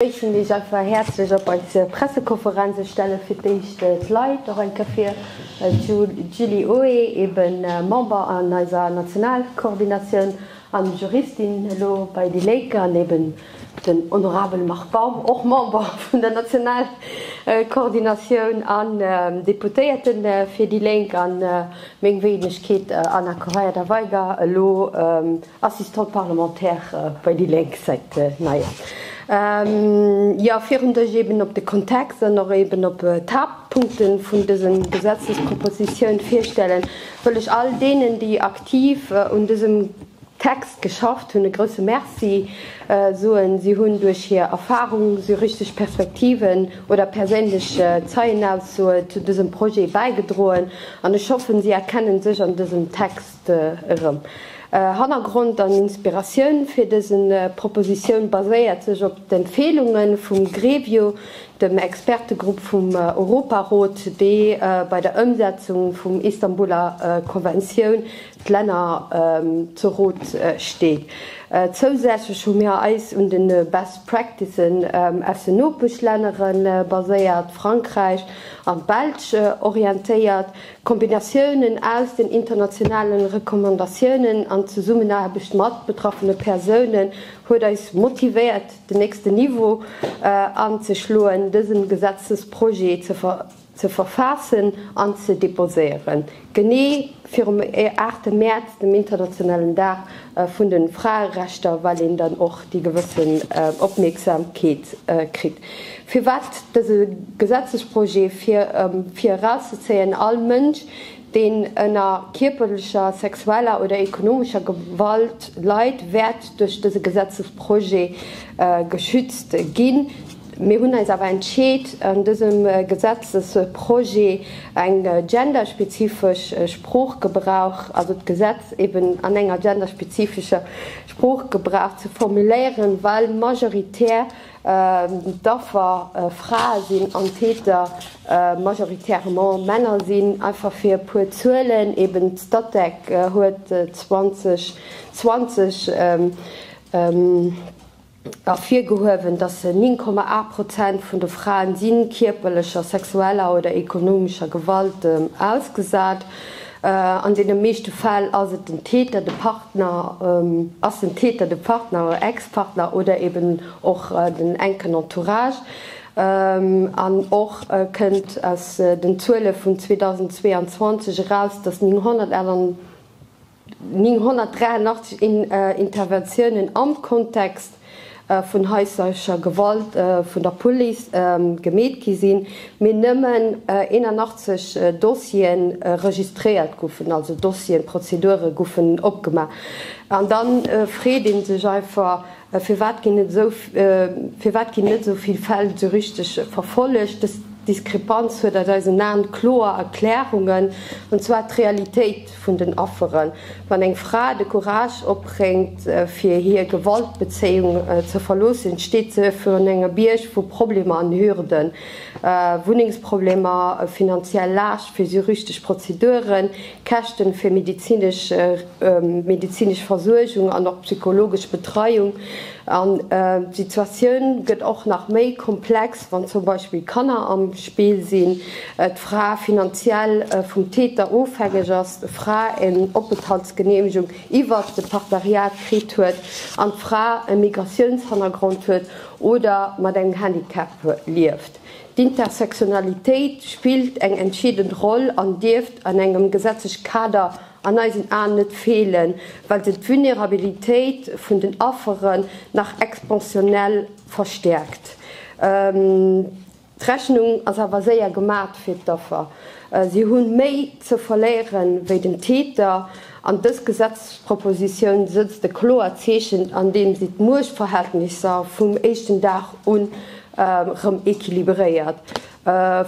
Begrëissen Iech einfach häerzlech op eiser Pressekonferenz. Ech stelle fir d'éischt d'Leit och eng Kéier vir, D'Julie Oé, eben Member an eiser Nationalkoordinatioun an Juristin elo bei déi Léike, an eben den honorabele Marc Baum, och Member vun der Nationalkoordinatioun an Deputéierte fir déi Lénk, a meng Wéinegkeet, Anna Correia-Da Veiga, elo Assistant parlementaire bei déi Lénk säit Neier Joer virun Dësch. Eben op de Kontext an och eben op d'Haaptpunkte vun dëse Gesetzespropositioun virstelle wëll ech all deenen, déi aktiv un dësem Text geschafft hunn, e grouse Merci soen. Si hunn duerch hir Erfarung, juristesch Perspektiven oder perséinlech Zeienaussoe zu dësem Projet bäigedroen an ech hoffen, si erkennen sech an dësem Text. De erëm. Hannergrond an Inspiratioun fir dëse Propositioun baséiert sech op d'Empfeelunge vum GREVIO, dem Expertegrupp vum Europarot, dee bei der Ëmsetzung vum Istanbuler Konventioun d'Länner zu Rot steet. Zousätzlech hu mir eis un de Best Practicen aus den Nopeschlännere baséiert, Frankräich an d'Belsch, orientéiert. Kombinatiounen aus den internationale Recommandatiounen an Zesummenaarbecht mat betraffene Persounen huet eis motivéiert, den nächsten Niveau anzeschloen, dësen Gesetzesprojet ze verfaassen an ze deposéieren, genee virum 8 Mäerz, dem internationalen Dag vun den Fraerechter, well een dann och déi gewëssen Opmierksamkeet kritt. Firwat dëse Gesetzesprojet? Fir erauszezéien, All Mënsch, deen ënner kierperlecher, sexueller oder ekonomescher Gewalt leit, wäert duerch dëse Gesetzesprojet geschützt ginn. Mir hunn eis awer entscheet, an dësem Gesetzesprojet eng genderspezifesch Sproochgebrauch, also d'Gesetz eben an enger genderspezifescher Sproochgebrauch ze formuléieren, well majoritär d'Affer Frae sinn an d'Täter majoritairement Männer sinn. Einfach fir e puer Zuelen, eben d'Statec huet 2020 ervirgehuewen, datt se 9,8 Prozent vun de Fraen sinn, kierperlecher, sexueller oder ekonomescher Gewalt ausgesat. An deene meeschte Fäll ass et den Täter, de Partner, ass den Täter de Partner oder Ex-Partner oder eben och den enken Entourage. An och kënnt aus den Zuele vun 2022 eraus, datt 981. 983 Interventiounen am Kontext vun haislecher Gewalt vun der Police gemeet gi sinn, mee nëmmen 81 Dossiere registréiert goufen, also Dossieren, Prozedure goufen opgemaach. An da freet ee sech einfach, Mä firwat ginn net esou, firwat ginn net esou vill Fäll esou richteg verfollegt? Dës Diskrepanz huet aus eisen Aen kloer Erklärungen, an zwar d'Realitéit vun den Afferen. Wann eng Fra de Courage opbréngt, fir hir Gewaltbezéiung ze verloossen, steet se virun engem Bierg vu Problemer an Hürden, Wunnengsproblemer, finanziell Laascht fir juristesch Prozeduren, D'Käschten fir medezinesch Versuergung an och psychologesch Betreiung an d'Situatioun gëtt och nach méi komplex, wann zum Beispill Kanner am Spill sinn, d'Fra finanziell vum Täter ofhängeg ass, d'Fra en Openthaltsgeneemegung iwwert de Partneriat kritt huet an d'Fra e Migratiounshannergrond huet oder mat engem Handicap lieft. D'Intersectionalitéit spillt eng entscheedend Roll an dierft an engem gesetzlech Kader an eisen Aen net feelen, well se d'Vulnerabilitéit vun den Afferen nach exponentiell verstäerkt. D'Rechnung ass awer séier gemat fir d'Affer, si hu méi ze verléieren wéi den Täter. An dës Gesetzespropositioun sëtzt e kloert Zeechen, andeem si d'Muechtverhältnisser vum éischten Dag un erëm equilibréiert,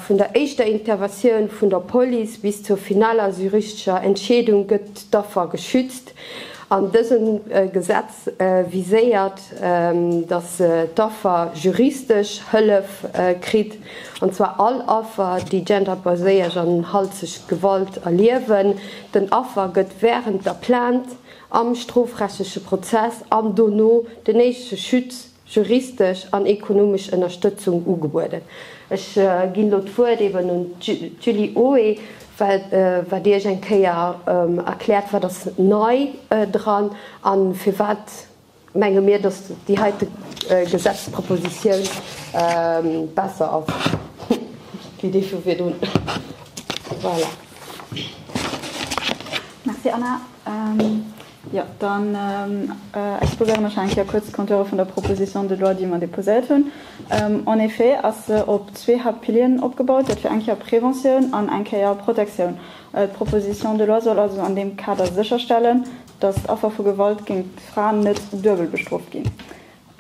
vun der éischter Interventioun vun der Police bis zur finaler juristescher Entscheedung gëtt d'Affer geschützt an dësem Gesetz. viséiert, datt d'Affer juristesch Hëllef kritt, an zwar all Affer, déi genderbaséiert an halteg Gewalt erliewen. Den Affer gëtt wärend der Plainte, am strofrechtleche Prozess an dono den éischte Schutz juristesch an ekonomesch Ënnerstëtzung ugebueden. Ech ginn elo d'Wuert eben un d'Julie Hoé, well wat Iech eng Kéier erkläert, wat ass nei dran a firwat menge mir, dass déi heite Gesetzespropositioun besser ass wéi déi vu virdrun. Voilà. Merci Anna. Jo, dann exposéieren ech eng Kéier kuerz d'Kontoure vun der Proposition de loi, déi mer déposéiert hunn. En effet ass se op zwee Haaptpilieren opgebaut, dat wier eng Kéier Préventioun an eng Kéier Protektioun. D'Proposition de loi soll also an deem Kader sécherstellen, dass d'Affer vu Gewalt géingt Fraen net duebel bestrooft ginn.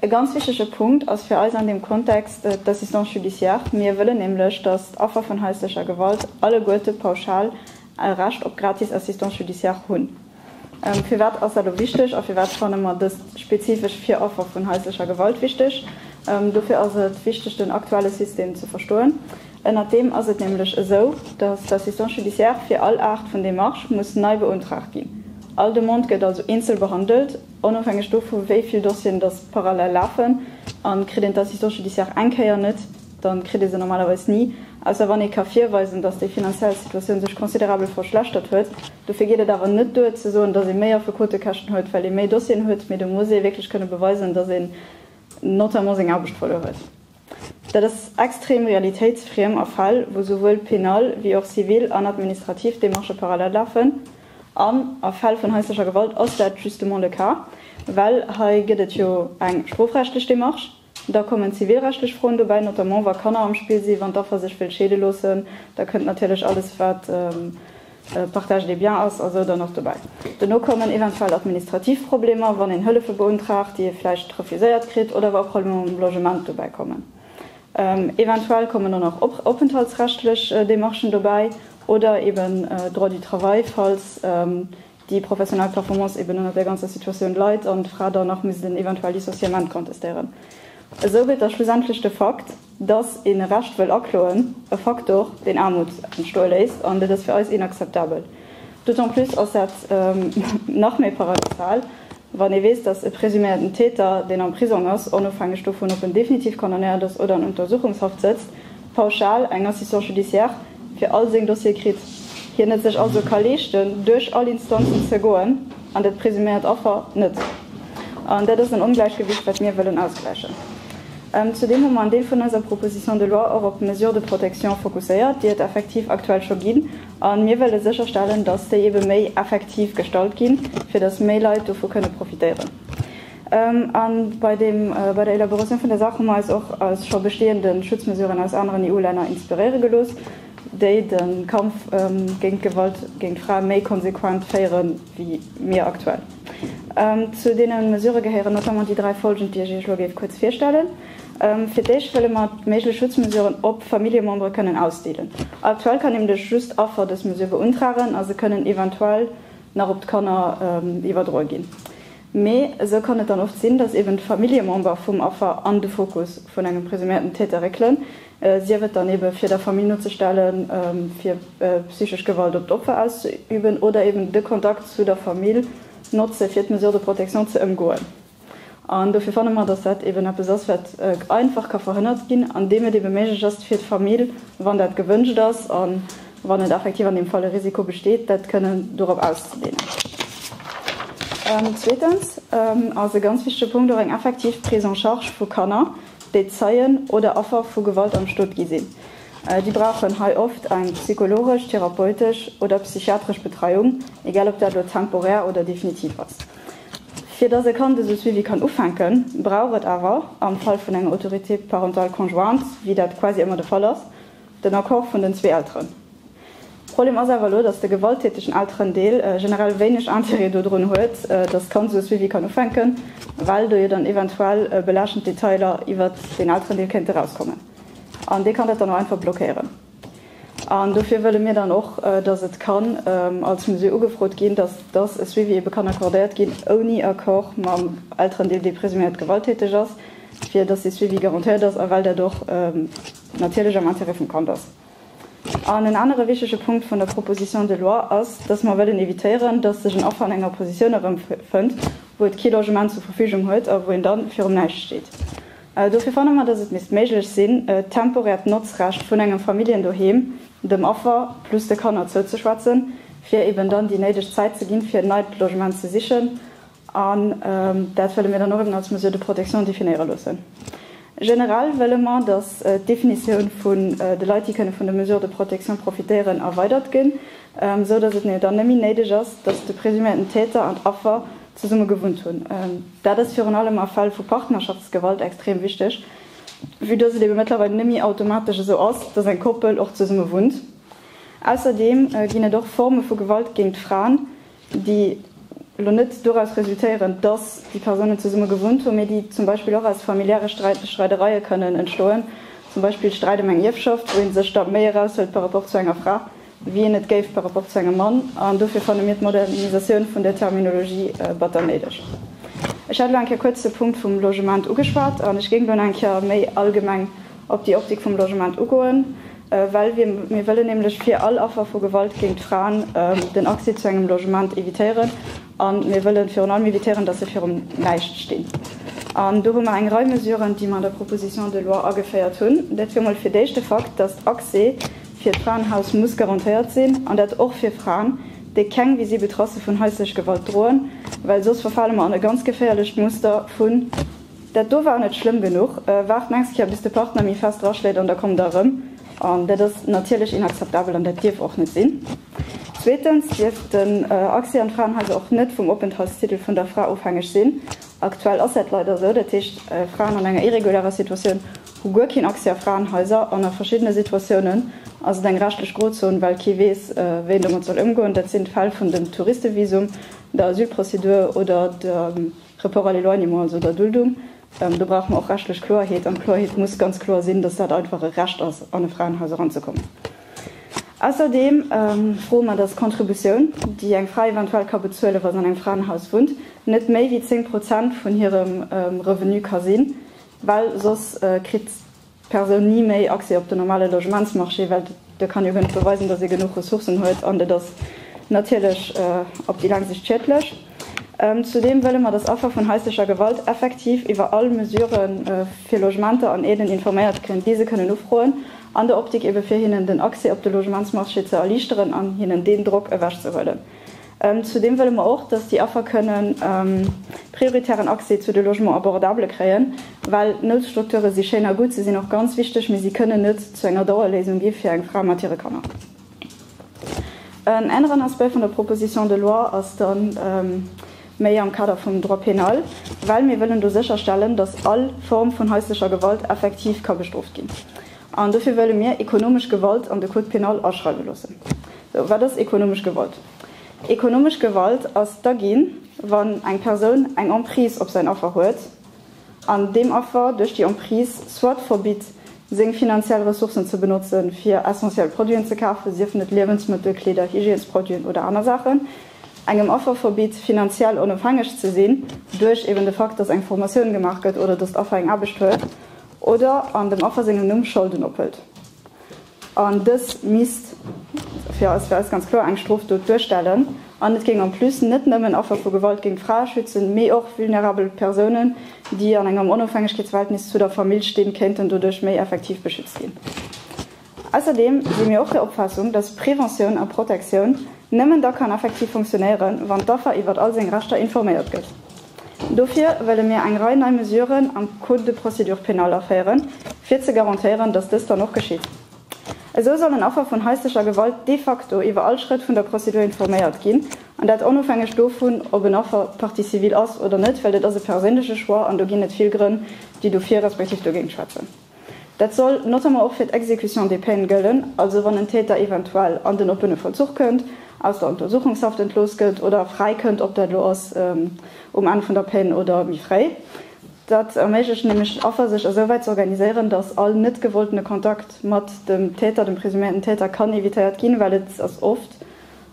E ganz wichtege Punkt ass fir eis an deem Kontext d'Assistance judiciare. Mir wëllen nämlech, datt d'Affer vun haislecher Gewalt alleguerte pauschal e Recht op gratis Assistance judiciare hunn. Firwat ass dat elo wichteg a firwat fanne mer dëst spezifesch fir Affer vun haislecher Gewalt wichteg? Dofir ass et wichteg, den aktuelle System ze verstoen. Ënnert deem ass et nämlech esou, datt d'Assistance judiciare fir all Aart vun Demarche muss nei beuntraagt ginn. All Demande gëtt also eenzel behandelt. Onofhängeg dovu wéi vill Dossieren datt parallel lafen a kritt een d'Assistance judiciaire eng Kéier net, da kritt ee se normalerweis ni, ausser wann ee ka virweisen, datt déi finanziell Situatioun sech considerabel verschlechtert huet. Dofir geet et awer net duer ze soen, datt ee méi Affekotekäschten huet, well ee méi Dossieren huet, mee do muss ee wierklech kënne beweisen, datt een notamment seng Aarbecht verluer huet. Dat ass extrem realitéitsfriem a Fäll, wou souwuel penal wéi och zivil an administrativ Demarchë parallel lafen. An a Fäll vun haislecher Gewalt ass dat justement le cas, well hei gëtt et jo eng strofrechtlech Demarche, da kommen zivilrechtlech Froen dobäi, notamment wa Kanner am Spill sinn, wann d'Affer sech wëllt scheede loossen, da kënnt natierlech alles, wat. Partage des biens ass also dann och dobäi. Dono kommen eventuell administrativ Problemer, wann een Hëllefe beuntraagt, déi ee vläicht refuséiert kritt, oder wa Problemer mam Logement dobäi kommen. Eventuell kommen dann och openthaltsrechtlech Demarchen dobäi oder eeben Droit du travail, falls déi professionell Performance eeben ënnert där ganzer Situatioun leit an d'Fra dann nach misst en eventuell Licenciement contestéieren. Esou gëtt da schlussendlech de Fakt, Dass een e Recht wëll akloen, e Faktor, deen Aarmut entstoe léisst, an dat ass fir eis inakzeptabel. D'autant plus ass dat nach méi paradoxal, wann ee weess, dass e presuméierten Täter, deen am Prisong ass, onofhängeg dovun, ob en definitiv condamnéiert ass oder an Untersuchungshaft sëtzt, pauschal eng Assistance judiciaire fir all seng Dossiere kritt, hien et sech also ka leeschten, duerch all Instanzen ze goen, an dat presuméiert Affer net. An dat ass en Ongläichgewicht, wat mir wëllen ausgläichen. Zudeem hu mer en Deel vun eiser Proposition de loi och op d'Mesures de protection fokusséiert, déi et effektiv aktuell scho ginn. A mir wëlle sécherstellen, dass déi ebe méi effektiv gestalt ginn, fir dass méi Leit dovu kënne profitéieren. A bei der Elaboration vun der Saach hu mer eis och a scho bestehende Schutzmesuren aus aneren EU-Länner inspiréiere gelooss, déi de Kampf géint d'Gewalt géint Frae méi konsequent féieren. wéi mir aktuell. Zu deene Mesurë gehéieren notamment déi dräi follgend, déi ech Iech elo géif kuerz virstellen. Fir d'éischt wëlle mer méiglech Schutzmesuren op Familljemembere kënnen ausdeelen. Aktuell kann nämlech just Affer dës Mesure beuntragen a se kënnen eventuell nach op d'Kanner iwwerdroe ginn. Mee esou kann et dann oft sinn, datt eben d'Familljemember vum Affer an de Fokus vun engem presuméierten Täter réckelen, sief et dann eben, fir der Famill nozestellen, fir psychesch Gewalt op d'Opfer auszeüben oder eben de Kontakt zu der Famill notze fir d'Mesure de protection ze ëmgoen. An dofir fanne mer, datt dat eben eppes ass, wat einfach ka verhënnert ginn, andeem et eben méiglech ass fir d'Famill, wann dat gewënscht ass, an. wann et effektiv an deem Fall e Risiko besteet, dat kënnen dorop auszedehnen. Zweetens ass e ganz wichtege Punkt och eng effektiv Prise en charge vu Kanner, déi Zeien oder Affer vu Gewalt am Stot gi sinn. Déi brauchen hei oft eng psychologesch, therapeutesch oder psychiatresch Betreiung, egal ob dat elo temporär oder definitiv ass. Fir dass e Kand esou Suivi kann ufänken, brauch et awer am Fall vun enger Autorité parentale conjointe, wéi dat quasi ëmmer de Fall ass, den Accord vun den zwee Elteren. Problem ass awer elo, dass de gewalttätegen Elterendeel generell wéineg Intérêt dodrun huet, dass d'Kand esou e Suivi kann ufänken, well do jo dann eventuell belaaschtend Detailer iwwert deen Elterendeel kéinte erauskommen. An dee kann dat dann och einfach blockéieren. An dofir wëlle mir dann och, dass et kann als Mesure ugefrot ginn, dass dass e Suivi ebe kann accordéiert ginn ouni Accord mam Elterendeel, dee presuméiert gewalttäteg ass, fir dass dee Suivi garantéiert ass a well dat och, natierlech am Intérêt vum Kand ass. An en anere wichtege Punkt vun der Proposition de loi ass, dass mer wëllen évitéieren, dass sech en Affer an enger Positioun erëmfënnt, wou et kee Logement zur Verfügung huet a wou een da virum Näischt steet. Dofir fanne mer, dass et misst méiglech sinn, e temporäert Notzrecht vun engem Familljendoheem dem Affer plus de Kanner zouzeschwätzen, fir eeben dann déi néideg Zäit ze ginn, fir en neit Logement ze sichen An dat wëlle mir dann och eben als Mesure de protection definéiere loossen. Generell wëlle mer, dass d'Definitioun vun de Leit, déi kënne vun de Mesures de protection profitéieren, erweidert ginn, esou dass et ne dann nëmme néideg ass, dass de presuméierten Täter an d'Affer zesumme gewunnt hunn. Dat ass virun allem a Fäll vu Partnerschaftsgewalt extrem wichteg, vue dass et ebe mëttlerweil nëmme automatesch esou ass, dass eng Koppel och zesumme wunnt. Ausserdeem ginn et och Forme vu Gewalt géint d'Fraen, déi elo net doraus resultéieren, dass déi Persounen zesumme gewunnt hunn, mee déi zum Beispill och aus familiäre Streidereie kënnen entstoen, zum Beispill Sträit ëm eng Ierfschaft, wou ee sech da méi eraushëlt par rapport zu enger Fra, wéi een et géif par rapport zu engem Mann. An dofir fanne mir d'Modernisatioun vun der Terminologie batter néideg. Ech hat elo eng Kéier kuerz de Punkt vum Logement ugeschwat an ech géing elo nach eng Kéier méi allgemeng op déi Optik vum Logement ugoen, well mir wëllen nämlech fir all Affer vu Gewalt géint d'Fraen den Accès zu engem Logement evitéieren a mir wëlle virun allem evitéieren, datt se virum Näischt stinn. An do hu mer eng Rei Mesuren, déi mer an der Proposition de loi ageféiert hunn. Dat wier emol fir d'éischt de Fakt, datt Accès fir d'Fraenhaus muss garantéiert sinn, an dat och fir Fraen, déi keng visibel Tracë vun haislech Gewalt droen, well soss verfale mer an e ganz geféierlecht Muster vu Dat do war net schlëmm genuch. Waart nächst Kéier bis de Partner méi fest draschléit an da kommt der erëm. An dat ass natierlech inakzeptabel an dat dierf och net sinn. Zweetens dierf den Accès an d'Fraenhaiser och net vum Openthaltstitel vun der Fra ofhängeg sinn. Aktuell ass dat leider esou. Dat heescht, Fraen an enger irregulärer Situatioun hu guer keen Accès a Fraenhaiser an a verschiddene Situatiounen ass et eng rechtlech Grozon, well kee weess, wéi en domat soll ëmgoen. Dat sinn d'Fäll vun dem Touristevisum, der Asylprozedur oder der. Report à l'éloignement, also der Duldung, do brauche mer och rechtlech Kloerheet. An d'Kloerheet muss ganz kloer sinn, datt dat einfach e Recht ass, an e Fraenhaus eranzekommen. Ausserdeem froe mer, datt d'Contributioun, déi eng Fra eventuell ka bezuelen, wa se an engem Fraenhaus wunnt, net méi wéi zéng Prozent vun hirem Revenu ka sinn, well soss kritt Persoun ni méi Accès op den normale Logementsmarché, well de kann jo guer net beweisen, datt e genuch Ressourcen huet an et ass natierlech op déi laang Sicht schiedlech. Zudeem wëlle mer, datt Affer vun haislecher Gewalt effektiv iwwer all Mesure fir Logementer an Aiden informéiert ginn, déi se kënnen ufroen, an der Optik ebe fir hinnen den Accès op de Logementsmarché ze erliichteren an hinnen deen Drock ewechzehuelen. Zudeem wëlle mer och, dass déi Affer kënnen prioritären Accès zu de Logement abordable kréien, well Noutstrukture si schéin a gutt, se sinn och ganz wichteg, mee si kënnen net zu enger Dauerléisung gi fir eng Fra mat hire Kanner. En aneren Aspect vun der Proposition de loi ass da méi am Kader vum Droit pénal, well mir wëllen do sécherstellen, dass all Form vun haislecher Gewalt effektiv ka bestrooft ginn. An dofir wëlle mir ekonomesch Gewalt an de Code pénal aschreiwe loossen. Sou, wat ass ekonomesch Gewalt? Ekonomesch Gewalt ass da ginn, wann eng Persoun eng Emprise op säin Affer huet an deem Affer duerch déi Emprise soit verbitt, seng finanziell Ressourcen ze benotzen, fir essentiell Produiten ze kafen, siefen et Liewensmëttel, Kleeder, Hygiènesproduiten oder aner Saachen, engem Affer verbitt, finanziell onofhängeg ze sinn, duerch eben de Fakt, dass eng Formatioun gemaach gëtt oder dass d'Affer eng Aarbecht huet, oder an dem Affer sengem Numm Scholden ophëlt, an dës misst fir eis fir eis ganz kloer eng Strofdot duerstellen, an et géing en plus net nëmmen Affer vu Gewalt géint Frae schützen, mee och vulnerabel Persounen, déi an engem Onofhängegkeetsverhältnis zu der Famill stinn, kéinten doduerch méi effektiv beschützt ginn. Ausserdeem si mir och der Opfaassung, dass Preventioun a Protektioun nëmmen da kann effektiv funktionéieren, wann d'Affer iwwert all seng Rechter informéiert gëtt. Dofir wëlle mir eng Rei nei Mesuren am Code de procédure pénale aféieren, fir ze garantéieren, dass dëst dann och geschitt. Esou sollen Affer vun haislecher Gewalt de facto iwwer all Schrëtt vun der Prozedur informéiert ginn, an dat onofhängeg dovun, ob en Affer Partie civile ass oder net, well dat ass e perséinleche Choix an do ginn et vill Grënn, déi dofir respektiv dogéint schwätzen. Dat soll notamment och fir d'Exécution des peines gëllen, also wann en Täter eventuell an den oppene Vollzuch kënnt, aus der Untersuchungshaft entlooss gëtt oder fräi kënnt, ob dat elo ass um Enn vun der Peine oder méi fréi. Dat erméiglecht nämlech den Affer sech esouwäit ze organiséieren, datt all net gewolltene Kontakt mat dem Täter, dem presuméierten Täter, kann evitéiert ginn, well et ass oft,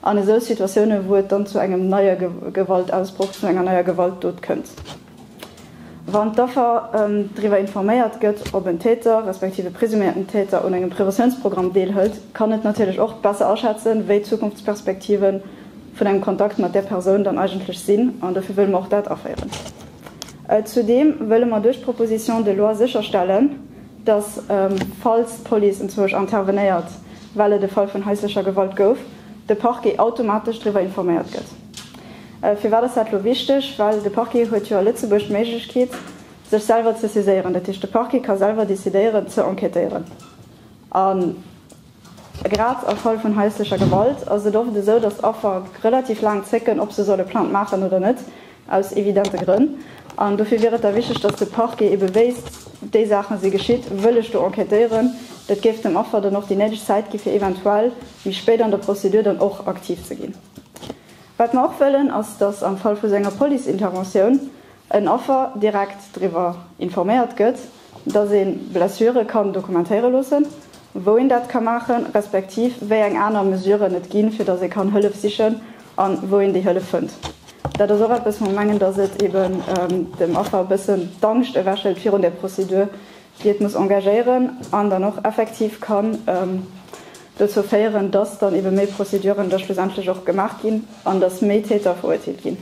An esou Situatiounen, wou et dann zu engem neie Gewaltausbroch, zu enger neier Gewaltdot kënnt, wann d'Affer driwwer informéiert gëtt, ob en Täter, respektiv e presuméierten Täter un engem Preventiounsprogramm deelhëlt, kann et natierlech och besser aschätzen, wéi d'Zukunftsperspektive vun engem Kontakt mat där Persoun dann eigentlech sinn. An dofir wëlle mer och dat aféieren. Zudeem wëlle mer duerch d'Proposition de loi sécherstellen, dass, falls d'Police entzwousch intervenéiert, well et e Fall vun haislecher Gewalt gouf, de Parquet automatesch driwwer informéiert gëtt. Firwat ass dat elo wichteg? Well de Parquet huet jo a Lëtzebuerg d'Méiglechkeet, sech selwer ze saiséieren. Dat heescht, de Parquet ka selwer decidéieren ze enquêtéieren. A Grad a Fall vun haislecher Gewalt ass et oft esou, datt d'Affer relativ laang zécken, ob se soll e Plainte maachen oder net, aus evidente Grënn. An dofir wier et da wichteg, datt de Parquet ebe wéisst, déi Saache si geschitt, wëll ech do enquêtéieren. Dat géif dem Affer dann och déi néideg Zäit ginn, fir eventuell méi spéit an der Prozedur dann och aktiv ze ginn. Wat mer och wëllen, ass, datt am Fall vu sou enger Police-Interventioun en Affer direkt driwwer informéiert gëtt, dass ee Blessure kann dokumentéiere loossen, wou een dat ka maachen, respektiv wéi eng aner Mesuren et ginn, fir dass ee kann Hëllef sichen a wou een déi Hëllef fënnt. Dat ass och eppes, wou mer mengen, dass et eeben dem Affer e bëssen d'Angscht ewechhëlt virun där Prozedur, déi et muss engagéieren an dann och effektiv kann dozou féieren, dass dann eebe méi Prozeduren da schlussendlech och gemaach ginn an dass méi Täter verurteelt ginn.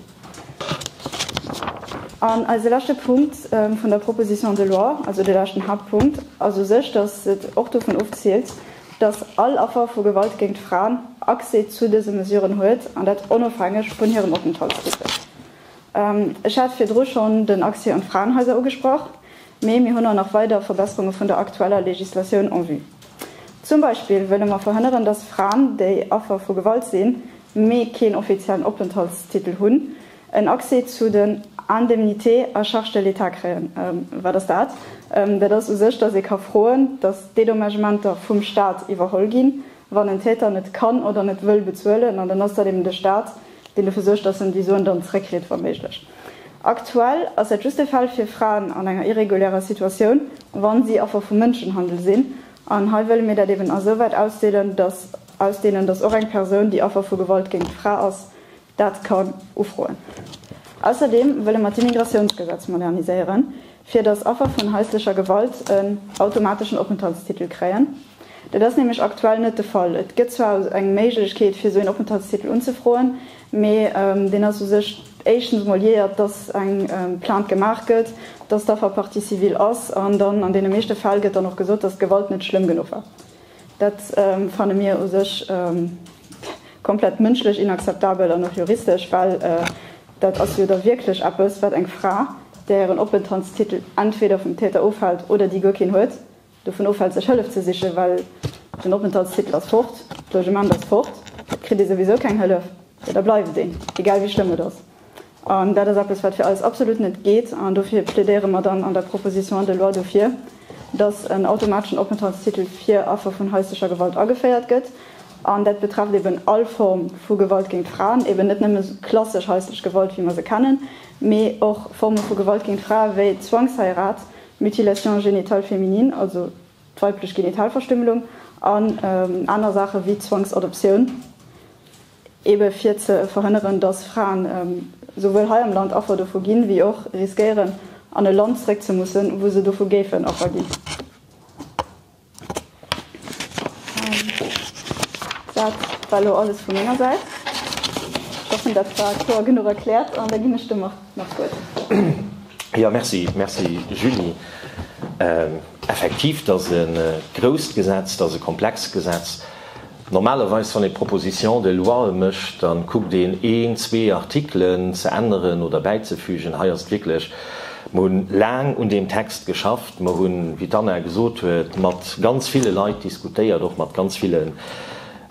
An eise leschte Punkt vun der Proposition de loi, also de leschten Haaptpunkt, ass u sech, dass et och dovun ofziilt, dass all Affer vu Gewalt géint Fraen Accès zu dëse Mesuren huet, an dat onofhängeg vun hirem Openthaltstitel. Ech hat virdru schonn den Accès un d'Fraenhaiser ugesprach. Mee mir hunn och nach weider Verbesserunge vun der aktueller Legislatioun en vue. Zum Beispill wëlle mer verhënneren, dass Fraen, déi Affer vu Gewalt sinn, mee keen offiziellen Openthaltstitel hunn, en Accès zu den Indemnités à charge de l'État kréien. Wat ass dat? Dat ass u sech, dass ee ka froen, dass d'Dédommagementer vum Stat iwwerholl ginn, wann en Täter net kann oder net wëll bezuelen. An dann ass dat eben de Stat, deen dofir suergt, dass en déi Suen dann zeréckkritt, wa méiglech. Aktuell ass dat just de Fall fir Fraen an enger irregulärer Situatioun, wa si Affer vu Mënschenhandel sinn. An hei wëlle mir dat eben esouwäit ausdeelen, dass ausdehnen, dass och eng Persoun, déi Affer vu Gewalt géint d'Fra ass, dat kann ufroen. Ausserdeem wëlle mer d'Immigratiounsgesetz moderniséieren, fir dass Affer vun haislecher Gewalt en automateschen Openthaltstitel kréien. Dat ass nämlech aktuell net de Fall. Et gëtt zwar eng Méiglechkeet, fir esou een Openthaltstitel unzefroen, Mee deen ass u sech éischtens emol jiäert, dass eng Plainte gemaach gëtt, dass d'Affer Partie civile ass an dann an deene meeschte Fäll gëtt dann och gesot, dass d'Gewalt net schlëmm genuch war. Dat fanne mir u sech komplett mënschlech inakzeptabel an och juristesch, well dat ass jo da wierklech eppes, wat eng Fra, där hiren Openthaltstitel entweder vum Täter ofhält oder déi guer keen huet, Dovun ofhält sech Hëllef ze sichen, well den Openthaltstitel ass fort, d'Logement ass fort, et kritt ee souwisou keng Hëllef, jo da bleift een, egal wéi schlëmm et ass. An dat ass eppes, wat fir eis absolut net geet. An dofir plädéiere mer dann an der Proposition de loi dofir, dass en automateschen Openthaltstitel fir Affer vun haislecher Gewalt ageféiert gëtt. An dat betrefft eben all Form vu Gewalt géint Fraen, eben net nëmme klassesch haislech Gewalt, wéi mer se kennen, mee och Forme vu Gewalt géint Frae wéi Zwangsheirat, Mutilation génitale féminine, also d'weiblech Genitalverstümmlung, an aner Saache wéi Zwangsadoptioun, ebe fir ze verhënneren, dass Fraen souwuel hei am Land Affer dovu ginn, wéi och riskéieren, an e Land zréck ze mussen, wou se dovu géifen Affer ginn. Dat war elo alles vu menger Säit. Ech hoffen, dat war kloer genuch erkläert. An da ginn ech dem Marc nach d'Wuert. Jo, merci. Merci, Julie. Effektiv, dat ass e grousst Gesetz, dat ass e komplext Gesetz. Normalerweis, wann ee Propositions de loie mécht, da kuckt een, een, zwee Artikelen ze änneren oder bäizefügen. Hei ass et wierklech, Mir hu laang un deem Text geschafft. Mer hunn, wéi d'Anna gesot huet, mat ganz ville Leit diskutéiert, och mat ganz villen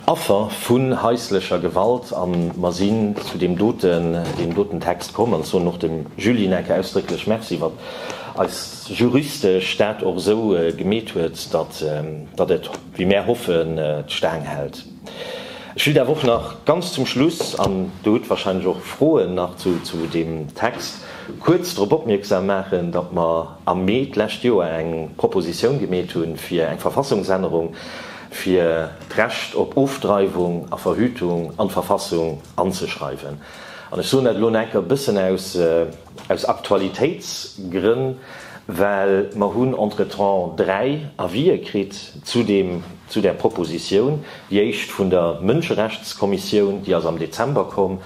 Affer vu haislecher Gewalt. A mer sinn zu deem doten, deem doten Text komm. An ech soen och dem Julie Lineke ausdrécklech Merci, wat eis juristesch dat och esou gemeet huet, datt, datt et, Wéi mär hoffen d'Staang hält. Ech wëll daf och nach ganz zum Schluss, an do hutt wahrscheinlech och Froen nach zu deem Text, kuerz drop opmierksam maachen, datt mer am Mee d'lescht Joer eng Propositioun gemeet hu fir eng Verfassungsännerung, fir d'Recht op Ofdreiwung a Verhütung an d'Verfassung anzeschreiwen. An ech soen dat elo enker e bëssen aus, Aus Aktualitéitsgrënn, well mer hunn entretemps dräi Avisë kritt zu deem, zu där Proposition, déi éischt vun der Mënscherechtskommissioun, déi ass am Dezember komm,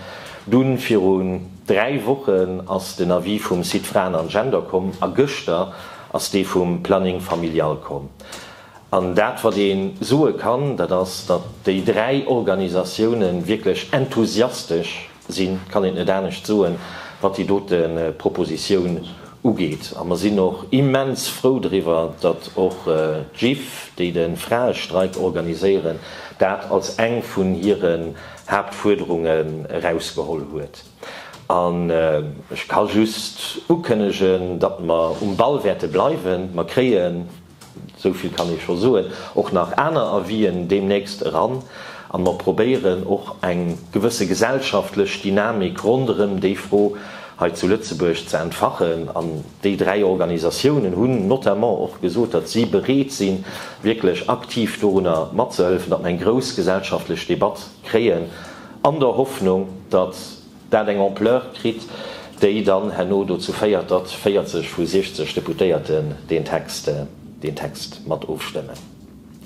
dunn virun dräi Wochen ass den Avis vum Site Fraen an Gender komm a gëschter ass dee vum Planning familial komm. An dat, wat ee soe kann, dat ass, datt déi dräi Organisatiounen wierklech enthusiastesch, Sinn, kann een net anescht soen, wat déi dote Propositioun ugeet. A mer sinn och immens frou driwwer, datt och d'GIFF, déi de Fraestreik organiséieren, dat als eng vun hire Haaptfuerderunge erausgeholl huet. An ech ka just ukënnegen, datt mer um Ball wäerte bleiwen. Mer kréien Esou vill kann ee scho soen, och nach aner Avis'en deemnächst eran, an mer probéieren och eng gewësse gesellschaftlech Dynamik ronderëm déi Fro hei zu Lëtzebuerg ze entfachen. An déi dräi Organisatiounen hunn notamment och gesot, datt si bereet sinn, wierklech aktiv dorunner matzehëlfen, datt mer eng grouss gesellschaftlech Debatt kréien, an der Hoffnung, datt Dat eng Ampleur kritt, déi dann herno dozou féiert, datt 40 vu 60 Deputéierten deen Text mat ofstëmmen.